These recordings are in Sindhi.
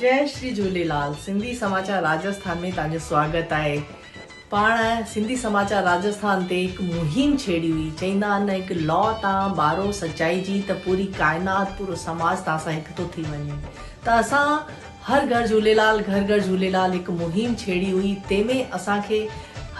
جئ شري جهوليلال سنڌي سماچار راجسٿان ۾ توهان جو سواگت آهي پاڻ سنڌي سماچار راجسٿان تي هڪ مهم ڇيڙي هئي چئيندا آهن هڪ لو تان ٻارو سچائي جي ته پوري ڪائنات پورو سماج توهان سان هڪ ٿو ٿي وڃي ته اسان هر گهر جهوليلال گهر گهر جهوليلال هڪ مهم ڇيڙي هئي تنهن ۾ اسان کي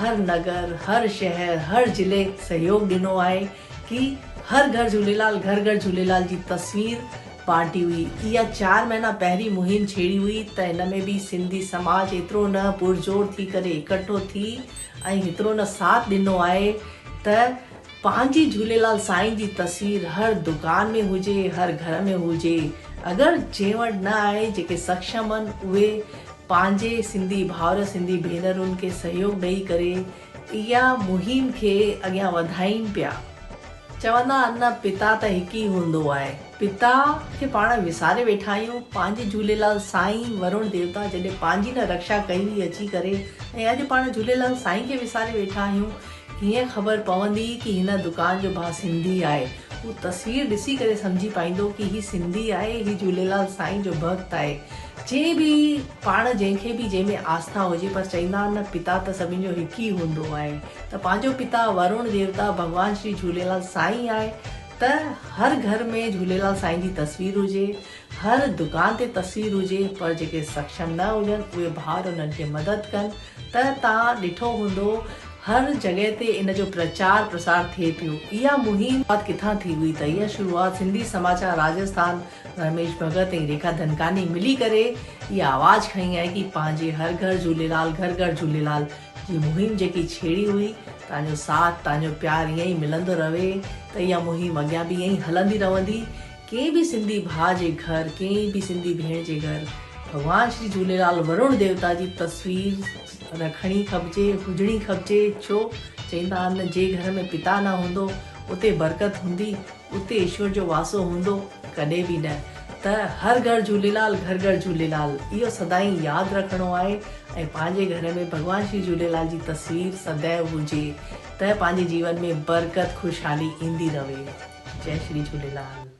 هر نگر هر شهر هر ضلعي سهيوگ ڏنو آهي ڪي هر گهر جهوليلال گهر گهر جهوليلال جي تصوير بانٽي هئي اها چار مهينا پهرين مهم ڇيڙي هئي ته ان ۾ به سنڌي سماج ايترو نه پرزور ٿي ڪري اڪٺو ٿي ۽ هيترو نه ساٿ ڏنو آهي ته پنهنجي جهوليلال سائين جي تصوير هر دڪان ۾ هجي، هر گهر ۾ هجي، اگر جنهن وٽ نه آهي، جيڪي سکشم ان اهي پنهنجي سنڌي ڀائر سنڌي ڀينرن کي سهيوگ ڏئي ڪري اها مهم کي اڳيان وڌائين پيا. چوندا آهن نه پتا ته هڪ ئي هوندو آهي، پتا کي پاڻ وساري ويٺا آهيون، پنهنجي جهوليلال سائين ورڻ ديوتا جڏهن پنهنجي نه رڪشا ڪئي هئي اچي ڪري ۽ اڄ پاڻ جهوليلال سائين کي وساري ويٺا آهيون، هيئن خبر پوندي ڪي هن دڪان جو ڀا سنڌي آهي. هو تصوير ڏسي ڪري سمجهي پائيندو ڪي هي سنڌي آهي، هي جهوليلال سائين جو ڀڳت آهي. جي به پاڻ جنهن کي به جنهن ۾ آسٿا هجي پر چئيندا آهن نه پتا ته سڀني جو هڪ ئي هوندو آهي ته پنهنجو پتا ورڻ ديوتا ڀڳوان شري جهوليلال سائين آهي ته هر گهر ۾ جهوليلال سائين جي تصوير هجي. هر دڪان تي تصوير هجي پر جيڪي سڪشم نه هجن اهي ڀائر انهن کي مدد ڪن ته تان ڏٺو هوندو هر جڳهه تي ان جو پرچار پرسار ٿئي پيو اها مهم شروعات ڪٿان ٿي هئي ته اها شروعات سنڌي سماچار راجسٿان رميش ڀڳت ۽ ريکا ڌنڪاني ملي ڪري اها آواز کنئي آهي ڪي پنهنجي هر گهر جهوليلال گهر گهر جهوليلال جي مهم جيڪي ڇيڙي هئي تان جو ساٿ تان جو پيار ائين ئي ملندو رهي ته اها مهم اڳيان به ائين ئي هلندي رهندي. ڪنهن به سنڌي ڀاء جي گهر، ڪنهن به سنڌي ڀيڻ جي گهر ڀڳوان شري جهوليلال ورڻ ديوتا جي تصوير رکڻي کپجي، هجڻي کپجي ڇو چئيندا آهن جي گهر ۾ پتا نه هوندو اتي برڪت هوندي، اتي ايشور جو واسو هوندو؟ ڪڏهن به نه ته هر گهر جهوليلال گهر گهر جهوليلال اهو سدائين ياد رکڻو آهي ۽ پنهنجي گهر ۾ ڀڳوان شري جهوليلال جي تصوير سدائين هجي ته پنهنجي جيون ۾ برڪت خوشحالي ايندي رهي. جئي شري جهوليلال.